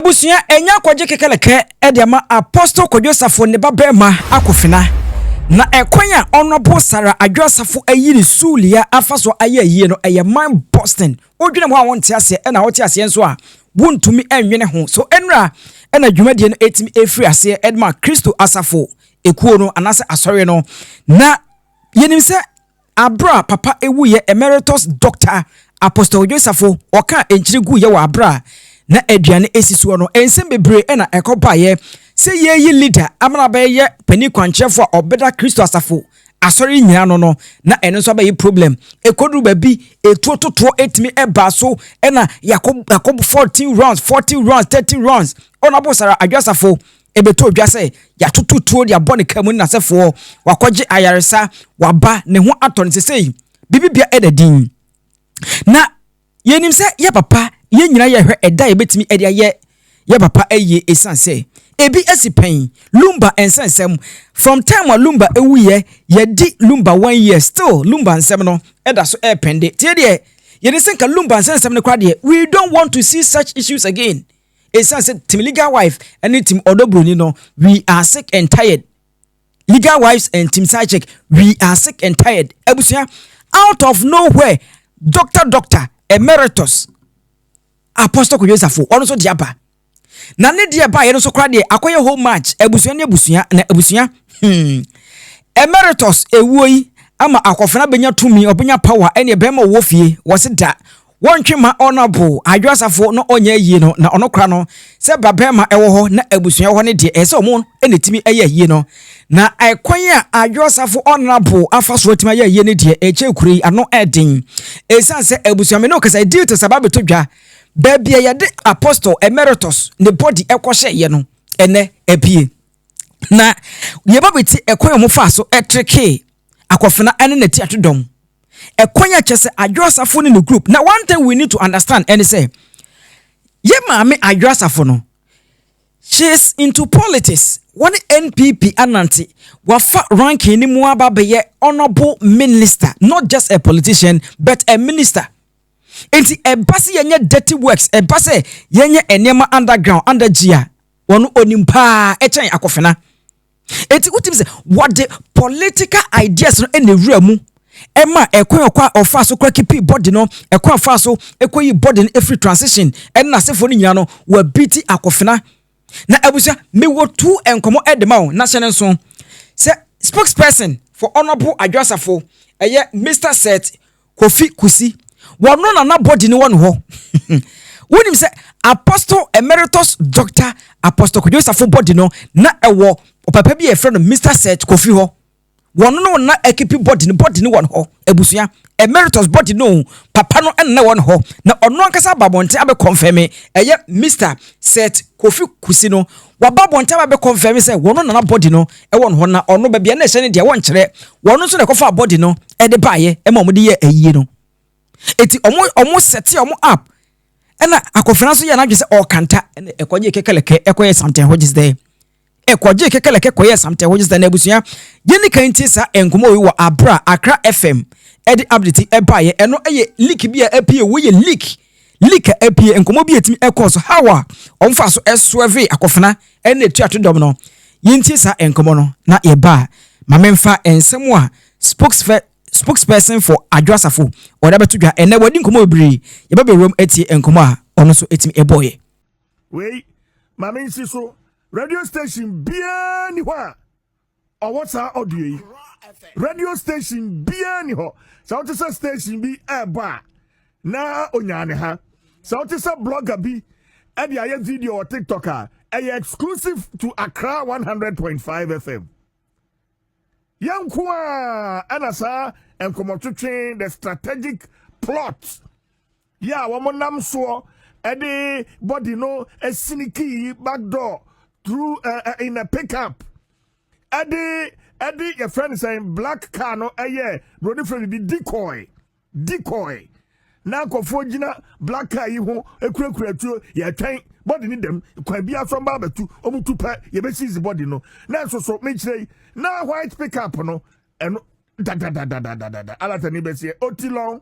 abusua anya akɔgye kekelekɛ de ama Apostle Kwadwo Asafo ne ba barima Akofena. Na ɛkwan a Honorable Sarah Adwo Asafo ayi ne Sulia afa so ayɛ ayie no ɛyɛ man Boston. Wodwene ho a wonte aseɛ ɛna wote aseɛ nso a wontumi nwene ho. So ɛnura ɛna dwumadie no ɛtumi ɛfiri aseɛ ɛdema Kristo Asafo ekuo no anaasɛ asɔre no. Na yɛnim sɛ. Aber a Papa ewuiɛ Emeritus Dɔkta Apostle Dwensafo ɔkaa nkyere guiɛ wɔ aber a na aduane esi soɔ no, nsɛm bebree na ɛkɔ baeɛ sɛ yɛreyi leader ama no abɛyɛ panin kwankyerɛfoɔ a ɔbɛda Kristo Asafo, Asɔre nyina ano no, na ɛno nso abɛye problem. Ɛkɔduru baabi, etuo totoɔ ɛtumi ɛbaa so na yɛakɔ yɛakɔ 14 rounds, 40 rounds, 30 rounds, Honourable Sarah Adwoasafo, Ɛbɛtɔ dwa sɛ yɛatoto tuo de abɔ ne kra mu nnasɛfoɔ, wakɔgye ayaresa, waba, ne ho atɔ no sesei, bibibea ɛda din. Na yɛnim sɛ yɛ papa, yɛn nyinaa yɛhwɛ ɛda a yɛbɛtumi ɛde ayɛ yɛ papa ayie ɛsiane sɛ ɛbi asi pɛn, Lumba nsa nsɛm, from time a Lumba ɛwuiɛ, yɛadi Lumba one year, still Lumba nsɛm no ɛda so ɛɛpɛnde. Nti yɛdeɛ, yɛnim sɛ nka Lumba nsa nsɛm no koraa deɛ, we don't want to see such issues again. Ɛsiane sɛ Team Legal Wife ne Team Ɔdɔ Buroni no, we are sick and tired. Legal Wives and Team Side Chick, we are sick and tired. Abusua, out of nowhere, Doctor Doctor Emeritus Apostle Kojo Safo, ɔno nso de aba. Na ne deɛ baeɛ no nso koraa deɛ akɔyɛ whole match abusua ne abusua na abusua. Hmm. Emeritus ewuo yi ama akɔfena bɛnya tumi ɔbɛnya power ɛne ɛbɛrima ɔwɔ fie wɔse da Wɔntwe mma Honourable Adwo Asafo na ɔnyɛ ayie no na ɔno kora no sɛ babarima ɛwɔ hɔ na abusua ɛwɔ hɔ no deɛ ɛyɛ sɛ ɔmo na ɛtumi ɛyɛ ayie no na ɛkwan a Adwo Asafo Honourable afa so atumi ayɛ ayie no deɛ ɛkyɛ kuro yi ano ɛden ɛsiane sɛ abusua me ne wo kasa deal te sɛ aba bɛtɔ dwa baabi a yɛde Apostle Emeritus ne body ɛkɔ hyɛeɛ no ɛnɛ apue. Na deɛ ɛba bɛti ɛkwan a wɔfaa so ɛtrekee Akofena ne n'atiato dɔm. Ɛkwan a kyɛ sɛ Adwo Asafo ne ne group. Na one thing we need to understand ɛne sɛ, yɛ maame Adwo Asafo no, she is into politics. Wɔne NPP anante, wafa ranking no mu aba bɛyɛ honourable minister, not just a politician but a minister. Nti ɛba sɛ yɛnyɛ dirty works, ɛba sɛ yɛnyɛ nneɛma underground, under G a, wɔn onim paa ɛkyɛn akofena eti wotim sɛ wɔde political ideas no ɛna ewura mu ɛma ɛkwan ɔkɔ a ɔfa so kora kipi body no ɛkwan ɔfa so ɛkɔ yi body no efiri transition ɛne n'asefoɔ no nyinaa no wɔabi ti akofena na abusua mewɔ tu nkɔmɔ ɛde ma wo na hyɛ ne nso sɛ spokesperson for honourable adwasafo ɛyɛ mr set Kofi Kusi, wɔno na na body no wɔ no hɔ. Wonim sɛ Apostle Emeritus Doctor Apostle Kwadwo Safo body no na ɛwɔ ɔpapa bi a yɛfrɛ no Mister Seth Kofi hɔ. Wɔno no na ɛkepi body no, body no wɔ no hɔ. Abusua, Emeritus body no o, papa no na ɛwɔ no hɔ. Na ɔno ankasa aba abɔnten abɛ confirm ɛyɛ Mister Seth Kofi Kusi no. Waba abɔnten aba bɛ kɔnfɛme sɛ wɔno na na bɔdi no ɛwɔ no hɔ na ɔno bɛbia na ɛhyɛ no deɛ wɔnkyerɛ wɔno nso na ɛkɔfaa bɔdi no ɛde baayɛ ɛma ɔmo de yɛɛ ayie no eti ɔmo ɔmo sɛtee ɔmo app ɛna Akofena nso yɛɛ n'adwene sɛ ɔɔkanta ɛna ɛkɔgyee kɛkɛlɛkɛ ɛkɔyɛɛ something hɔ gyes dɛ ɛkɔgyee kɛkɛlɛkɛ kɔyɛɛ something hɔ gyes dɛ na abusua yɛni kan tie saa nkɔmɔ wei wɔ abera Accra FM ɛde update ɛbaayɛ ɛno ɛyɛ leak bi a ɛpie wei yɛ leak Lika apue nkɔmmɔ bi a ɛtumi ɛkɔɔ so how a wɔfaa so ɛsoɛvee akofena ɛne atuato dɔm no yɛntie saa nkɔmmɔ no na yɛba a ma memfa nsɛm a spokesfɛ spokesperson for Adwo Asafo ɔde abɛto dwa ɛnɛ wɔadi nkɔmmɔ bebree yɛba bɛwuram atie nkɔmmɔ a ɔno nso ɛtumi ɛbɔɔyɛ. Wei ma mensi so radio station biara ni hɔ a. ɔwɔ saa audio yi radio station biara ni hɔ sɛ wote sɛ station bi ɛɛbɔ a na onyaa ne ha sɛ wote sɛ blogger bi ɛde ayɛ video wɔ tiktok a ɛyɛ exclusive to accra 100.5 fm yɛnko a ɛna saa nkɔmmɔtwetwe the strategic plot Yɛ a wɔn nam soɔ de body no sini kii back door through uh, uh, in a pick up ɛde ɛde yɛ fɛn sɛn black car no ɛyɛ broni fɛn de decoy decoy na akɔfoɔ gyina black car yi ho ekurakura tuo yɛtwɛn body ne dɛm kwan bi afɛn ba abɛtu wɔn tu pɛ yɛbɛsiisi body no na nso so mekyerɛ yi na white pick up no ɛno dadadadadadada alatani bɛsi yɛ otilɔn.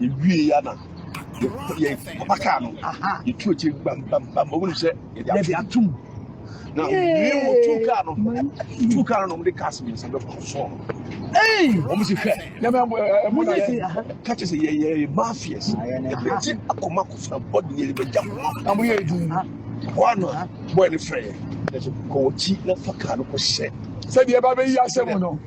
yɛwie ya na yɛ papa kaa no yɛtu akyiri bambambam wɔn sɛ yɛde atom na wie wɔ tu kaa no tu kaa no na wɔde kaas mmiɛnsa bɛ kɔ sɔɔ wɔn si hwɛ nyame ɛmu eh, na yɛ kakyɛ sɛ yɛ yɛ mafias yɛde ti akoma kɔfra bɔdi yɛ bɛ gya na mo yɛ edu hɔ ano bɔyɛ ne fɛ yɛ kɔwɔ kyi na fa kaa no kɔ hyɛ sɛdeɛ ɛba bɛyi asɛm no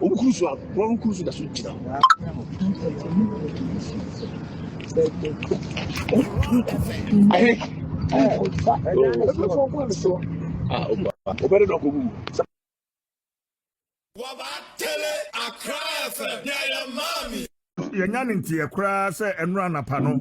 Wɔn kuru so a wɔn kuru so da so gyina hɔ. Ɛhɛn. Ah, opa. Obere dɔkɔ mu. Wabatele Accra FM, yeah, yeah, mommy. yɛnya ne nteɛ koraa sɛ ɛno anapa no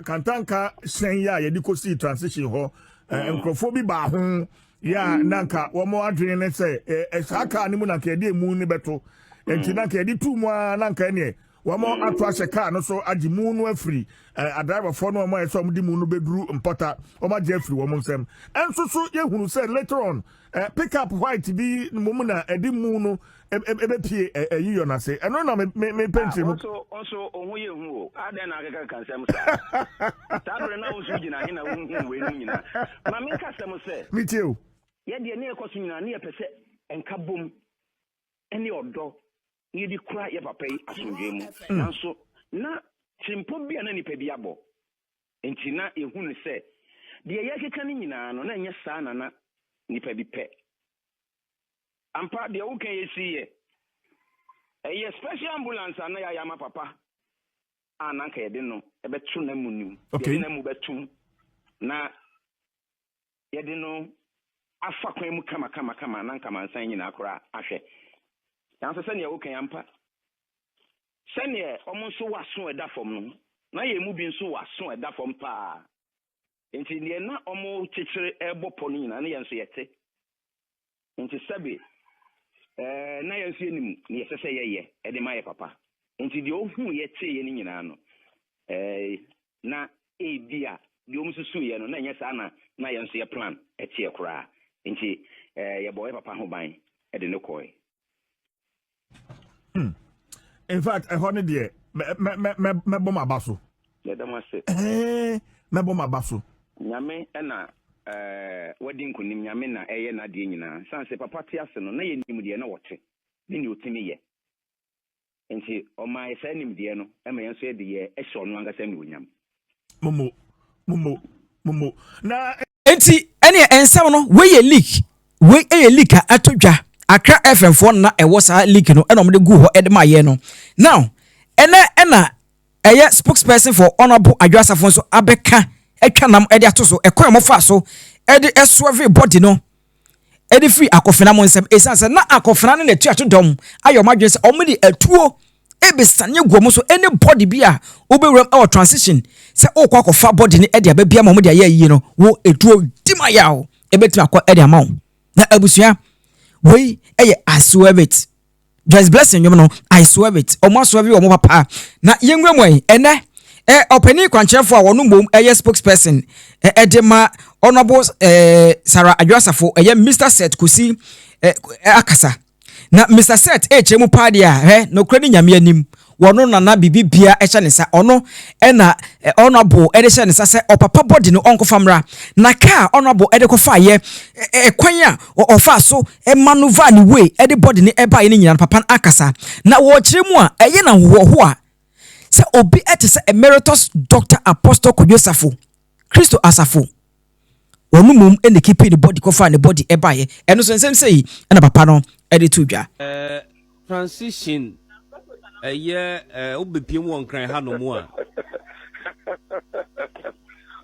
kantanka hyɛn yɛ a yɛde kɔsii transition hɔ nkurɔfoɔ bi baa ho yɛ a na nka wɔn adwene ne sɛ saa kaa no mu na nka yɛde emu no bɛto nti na nka yɛde tu mu a na nka ɛneɛ wɔn ato ahyɛ kaa no so agye mu no afiri adraivafoɔ no wɔn a ɛsɛ wɔn de mu no bɛduru mpɔta wɔn agye afiri wɔn nsam ɛnso so yɛhunu sɛ later on Eh, pick up white bi mmom na ɛde mu no ɛbɛpie ɛyi yɔ no ase ɛno na mepɛ nkyerɛ mu ɔso ɔho yɛ hu o adɛn na akeka ka nsɛm saa saa berɛ na wo nso gyina he na wonhu wei nom nyinaa ma menka sɛm sɛ metie o yɛdeɛ ne yɛkɔ so nyinaa ne yɛpɛ sɛ ɛnka bom ne ɔdɔ ne yɛde kura yɛ papa yi asomdwoe mu mm. nanso na tirimpo bi a na nnipa bi abɔ Enti na yehu no sɛ deɛ yɛrekeka no nyinaa no, na ɛnyɛ saa na na nnipa bi pɛ. Ampa, deɛ woka yi siiɛ. Ɛyɛ special ambulance a na yɛayɛ ama papa a na anka yɛde no bɛto n'amu no mu. Yɛde n'amu bɛtom na yɛde no afa kwan mu kamakamakama na anka mansan nyinaa koraa ahwɛ. Nanso sɛnea woka yi ampa, sɛnea wɔn nso wɔ aso a ɛda fam no, na yɛn mu bi nso wɔ aso a ɛda fam paa. Enti deɛ na wɔkyekyere rebɔ pɔ no nyinaa no yɛn nso yɛte. Enti sɛbe ɛɛ na yɛn nso yɛnim nea ɛsɛ sɛ yɛyɛ ɛde ma yɛ papa. Enti deɛ ɔhuuiɛ teeɛ no nyinaa no, ɛɛ na ebi a deɛ wɔn susuiɛ no na ɛnyɛ saa na na yɛn nso yɛ plan teɛ koraa. Enti ɛɛ yɛbɔɔ yɛ papa ho ban de no kɔɔe. Hmm. In fact, ɛhɔ no deɛ mɛbɔ m'aba so. Yɛda mo ase. Mɛbɔ m'aba so. Nyame na eh, wadi nkonim, Nyame na ɛyɛ n'adeɛ nyinaa. San sɛ papa te ase no, na yɛnim deɛ na wɔte ne deɛ ɔtumi yɛ. Nti ɔmaa yɛ saa nimdeɛ no ma yɛn nso yɛde yɛ hyɛ ɔno ankasa anuonyam. momo momo momo na. nti ɛnneɛ nsɛm no wei yɛ leak wei yɛ leak a ato dwa akra fm foɔ na ɛwɔ saa leak no ɛna wɔde gu hɔ ɛde ma yɛ no now ɛnɛ ɛna ɛyɛ spokesperson for honourable adwa asafo nso abɛka atwa nam ɛde ato so ɛkwan a wɔfa so ɛde ɛsoɛve body no. de firi akofena mo nsam ɛsiane sɛ na akofena no na atuato dɔm ayɛ wɔn adwene sɛ wɔn de atuo ɛbɛsane agu wɔn so ɛne bɔde bi a wobɛwuram ɛwɔ transition sɛ wokɔ akɔfa bɔde no ɛde abɛbia ma wɔn de ayɛ ayie no wo atuo di ma yɛ a ɛbɛtumi akɔ ɛde ama wo na abusua wei ɛyɛ asoɛbɛt Joyce Blessing nnwom no, I swear it. Wɔn asɔre yɛ wɔn papa. Na yɛnwura mu ɛ. Ɛnɛ, ɛ, ɔpanin kwankyerɛfoɔ a ɔno mmom yɛ spokesperson ɛ, de ma Honourable ɛ, Sarah Adwo Asafo, ɛyɛ Mister Seth Kosi ɛ, akasa. Na Mister Seth rekyerɛ mu paa deɛ a, hɛ, nokorɛ ne Nyame anim. Ɔno na na biribiara hyɛ ne nsa. Ɔno na Honourable de hyɛɛ ne nsa sɛ ɔpapa body no ɔnkɔfa mmra. Na kaa a Honourable de kɔfaeɛ, kwan a ɔfaa so manoeuvre ne way de body no baeɛ no nyinaa no, papa no ankasa na ɔkyerɛ mu a ɛyɛ no ahohoahoa sɛ obi te sɛ Emeritus Doctor Apostle Kwadwo Safo, Kristo Asafo. Wɔn mmom na ɛkipii ne body kɔfaa ne body baeɛ. Ɛno nso nsɛm sei na papa no de too dwa. Transition ɛyɛ eh, wo bɛ piem wɔ nkran ha nom a.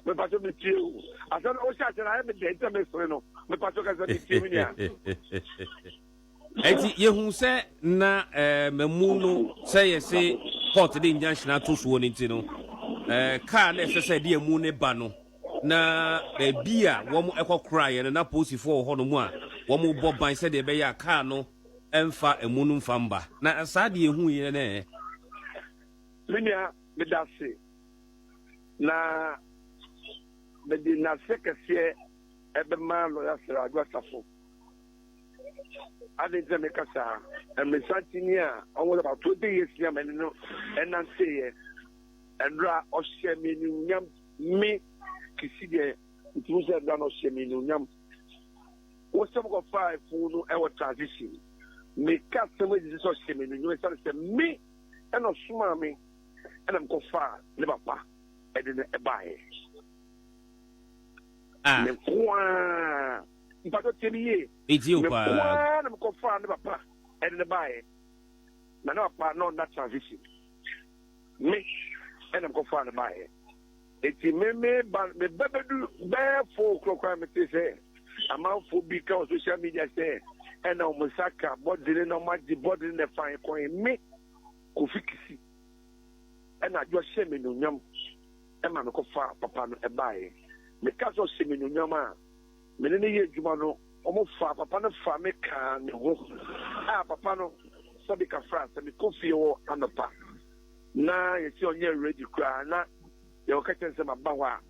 Me pacho me tie o. Asɛm no wo hyɛ ahyɛ na ayɛ me dɛ nti na me sere no. Me pacho kasa me tie me nua. Enti yehu sɛ na mmamu no sɛ yɛse court de nyanhyena to soɔ no nti no, car na ɛsɛ sɛ ɛde amu no ba no, na baabi a wɔkɔ koraeɛ no na polisifoɔ wɔ hɔnom a wɔbɔ ban sɛdeɛ ɛbɛyɛ a car no mfa amu no mfa mba. Na saa deɛ yɛhuiɛ no ɛ. Me nua, medase na mede nase kɛseɛ bɛma Lɔya Sir Adwo Asafo. Adɛn nti na meka saa? Mmerɛsankyini a ɔwɔ about twenty years ni a me ne no nanteeɛ. Ɛberɛ a ɔhyɛɛ me animuonyam, me Kisi deɛ, metumi hu sɛ ɛberɛ a na ɔhyɛ me animuonyam. Wo sɛ mokɔfaa afunu no wɔ transition. Meka asɛm yi gyesɛ ɔhyɛɛ me animuonyam ɛsiane sɛ me na ɔsomaa me na mekɔfaa ne papa de no baeɛ. Ah. Me nko ara. mpakyɛw tie me yie. Metie wo paa. Me nko ara na me kɔ faa ne papa ɛde ne baa yɛ. Na ne papa na ɔnna transition. Me ɛna me kɔ faa ne baa yɛ. Eti me me ba me ba bedu bɛɛ fo kura kura me te sɛ amanfo bi ka wɔ social media sɛ ɛna wɔn nsa ka bɔdene na wɔn agye bɔdene na ɛfa kɔn me kofi kisi ɛna adwo hyɛ me nunyam ɛma me kɔ faa papa no ɛbaa yɛ. Me ka sɛ ɔhyɛ me nunyam a. me ne no yɛ adwuma no, wɔfaa papa no faa me kaa ne ho a papa no sɔde kafraa sɛ mekɔ fie hɔ anɔpa na yɛsi ɔnyɛ ready koraa na deɛ ɔka kyerɛ sɛ maba hɔ a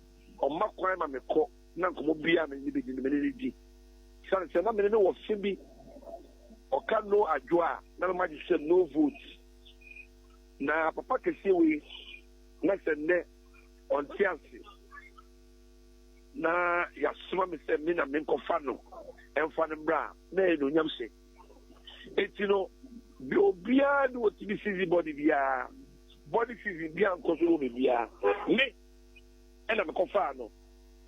ɔma kwan ma mekɔ na nkɔmmɔ biara me ne no bɛdi no me ne no di sane sɛ na me ne no wɔ fe bi ɔka no adwo a na mema gye sɛ no vote na papa kɛseɛ wei na sɛ nnɛ ɔnte ase na yɛasoma me sɛ me na menkɔfa no mfa no mmra a, na ɛyɛ anuonyam hyɛ. Enti no, deɛ obiara de ɔtumi sizi bɔne biara, bɔne sizi biara nkɔ so wɔ me biara, me ɛna mekɔfaa no.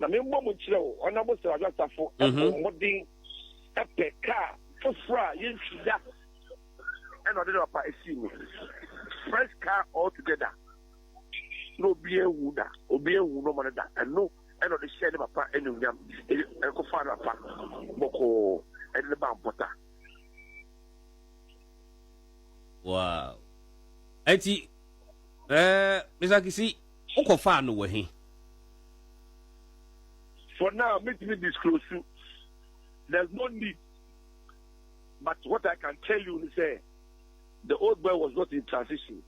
Na membɔ mu nkyerɛ wo, Ɔnabo Srajo Asafo ɛbɔ mhm. mmɔden ɛpɛ kaa foforɔ a yɛntwi da ɛna ɔde no apa ɛsii mu. Fresh car altogether. na obi anwu da, obi anwu no ɔma no da. Ɛno ɛna ɔde hyɛɛ ne papa anuonyam, ɛkɔfaa ne papa bɔkɔɔ, ɛde no baa mpɔta. Wow. Eti, eh, Mr. Kisi, wokɔfaa no wɔ he? For now, me to me disclose you. There's no need. But what I can tell you is that the old boy was not in transition.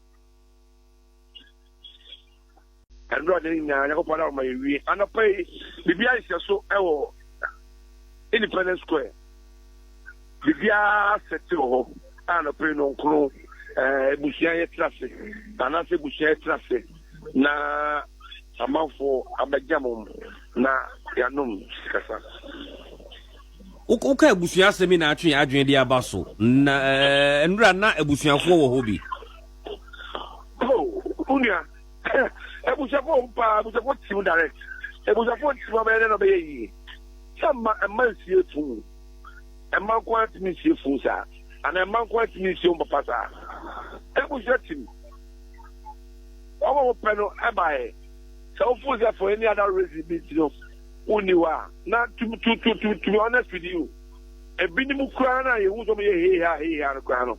Ɛno ade nyinaa Nyankopɔn ama yɛwie. Anɔpa yi, biribiara hyehyɛ so wɔ Independence Square. Biribiara sɛte wɔ hɔ a anɔpa yi no nkono eh, abusua yɛtena ase anaasɛ abusua yɛtena ase na amanfoɔ abɛgya mo na yɛanom sikasa. Woka abusua asɛm yi na atwe adwene de aba so na eh, nnura na abusuafoɔ wɔ hɔ bi. Oh, wo nua. Abusuafo ohu paa, abusuafo team direct. Abusuafo nti ma ɔbɛyɛ dɛ na ɔbɛyɛ yie. Sɛ mma, mma nsie fun. Mma nko ara ntumi nsie fun saa. Anaa mma nko ara ntumi nsie wɔn papa saa. Abusua team. Wɔn a wɔpɛ no baeɛ. Sɛ wofo sɛ for any other reason bi nti no, wonni hɔ a, na to, to, to, to, to be honest with you, ebinom koraa no a yɛhu sɛ wɔyɛ hee haa, hee haa no koraa no,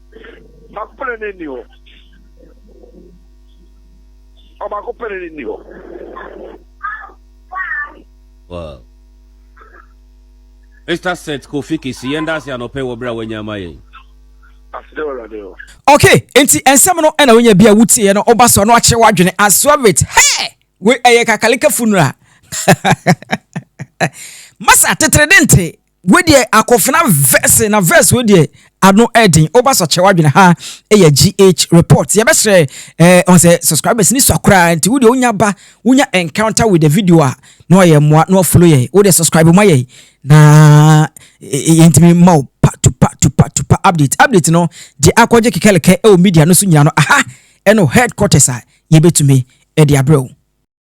Baako pɛ na ne nni hɔ. Ɔbaako pɛ na ne nni hɔ. Wow. Mr. Seth Kofi Kisi, yɛn da ase anɔpɛ wɔ berɛ a wanya ama yɛn. Aseda wɔ Awurade hɔ. Okay, nti nsɛm no ɛna wonya bi a wotieɛ no woba so no akyerɛ w'adwene as you have it. Hey! Wei ɛyɛ kakalekafo nura. Masa tetere de nte. wei deɛ akofena verse na verse wei deɛ ano ɛden ɔba so akyerɛ wadwene ha ɛyɛ gh report yɛbɛsrɛ ɛɛ eh, ɔn sɛ subscribers ni sɔ koraa nti wo deɛ wonya ba wonya encounter with the video a na ɔyɛ mmoa na ɔfollow yɛ wo deɛ subscribe ma yɛ na yɛntumi ma wo pa to pa to pa to pa update update no gye akɔgye kekɛlekɛ ɛwɔ media no so nyina no aha ɛno headquarters a yɛbɛtumi ɛde abrɛ wo